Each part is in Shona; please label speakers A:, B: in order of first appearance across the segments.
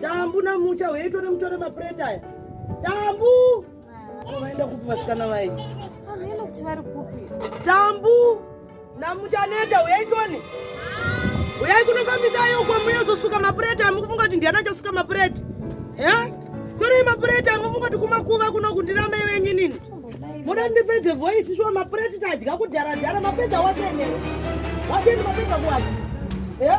A: Tambu na mucha weitore mutore mapureti aya. Tambu! Vaenda kupi vasikana vaye? Vanoti vari
B: kupi? Tambu
A: namutaneta uyai tone. Uyai kunofambisa ayo uko muyozosuka mapureti amukufunga kuti ndiana achasuka mapureti. Eh? Torei mapureti amufunga kuti kumakuva kuno kundina mai venyu nini? Muda ndipedze voice shuwa mapureti tadya kudhara dhara mapedza watene. Watene mapedza kuwacha. Eh?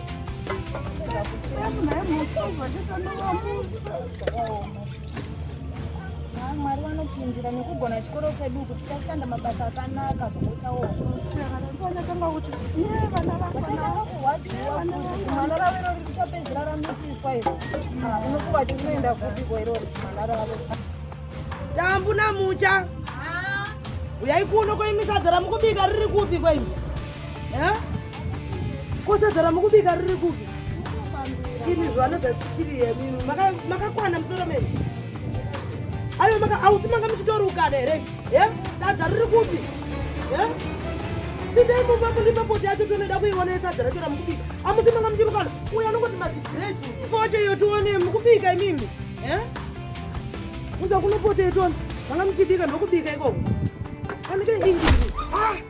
B: mwari vanopindira nekugona chikoro chedu kuti tashanda mabasa akanaka zvokuchaoomwana ravo irori richapedzira ramitiswa iro unokuva tinoenda kupiko irori mwana ravo
A: tambu namucha uyai kuno koimisadza ramukubika riri kupi kwaimi kosadzara mukubika riri kupi ini zvanodza sisiri yemimi makakwana musoro mene aive maka ausi manga muchitorukana here e sadza riri kupi e pindai mumba mundipa poti yacho tonoda kuiona yesadza racho ramukubika amusi manga muchirukana uyo anongoti mazigresi ipote iyo tione mukubika imimi e unza kunopote itona manga muchibika ndokubika ikoko anike ingii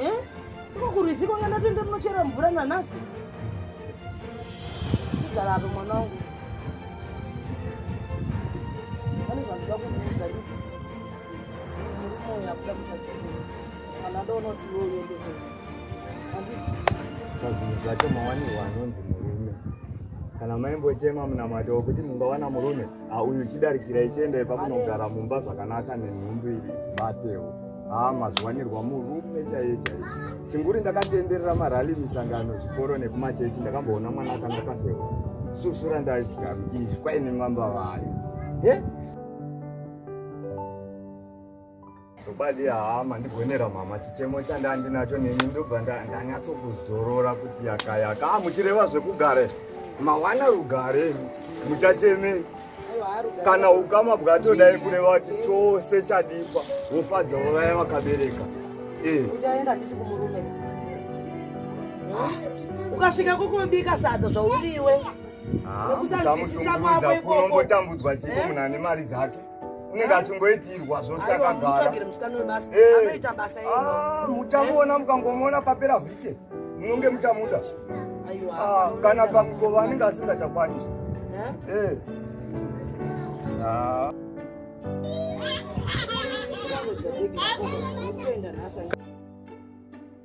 A: Eh? Iko kurwizi kwanga ndatoenda kunochera mvura nanhasi. Chigara apo mwana wangu. Pane zvandida kukuudza nditi. Murume uyu
C: akuda kuchachikuru. Kana ndoona kuti iwe uende kwedu. Handiti. Pazvinhu zvacho mawani wanonzi murume. Kana maimbochema munamato wokuti mungawana murume. Ah, uyu chidarikira ichienda ipa munogara mumba zvakanaka nenhumbu iri dzibatewo haa ah, mazviwanirwa murume chaiye chaiye chinguri ndakatoenderera marali misangano zvikoro nekumachechi ndakamboona mwana akanga kasewa susura ndaizvigami izvi kwaine mamba vayo he Chokwadi haa mandigonera mama chichemo chandandinacho neni ndobva ndanyatsokuzorora kuti yakayaka ah, muchireva zvekugare mawana rugare muchachemei kana ukama bwatodai kureva kuti chose chadipa wofadzawo vaya vakabereka
A: eh. ah. ukasvika kokobika sadza zvauriwe ah, nekusanzwisisa
C: kwako ikoko unongotambudzwa chiko eh? munhu ane mari dzake unenge achingoitirwa zvose akagaramuchamuona ah, mukangomuona papera vhike munonge muchamuda ah, kana pamukova anenge asingachakwanisi eh? ah.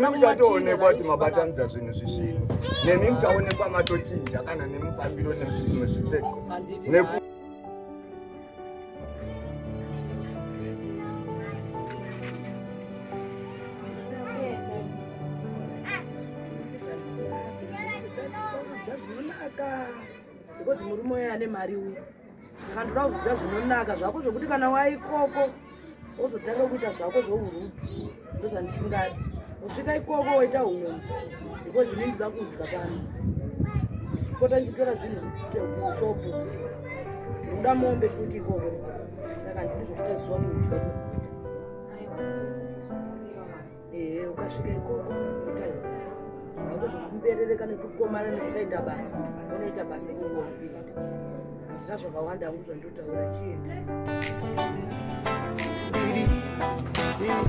C: nemi chatoonekwa kuti mabatanidza zvinhu zvisvinu nemi muchaonekwa matochinja kana nemufambiro nekuti zvimwe zvipfeko because
A: murume uyo ane mari uyo saka ndoda kuzoda zvinonaka zvako zvokuti kana waikoko wozotanga kuita zvako zvourudu ndozvandisingadi kusvika ikoko woita umwe because ini ndoda kudya pano pota ndichitora zvinhu kushopu ndoda mombe futi ikoko saka ndini zvokuita zuva kudya ehe ukasvika ikoko zvakuberereka nekukomana nekusaita basa unoita basa ikoko hazvina zvakawanda angu zvandotaura chienda Yeah.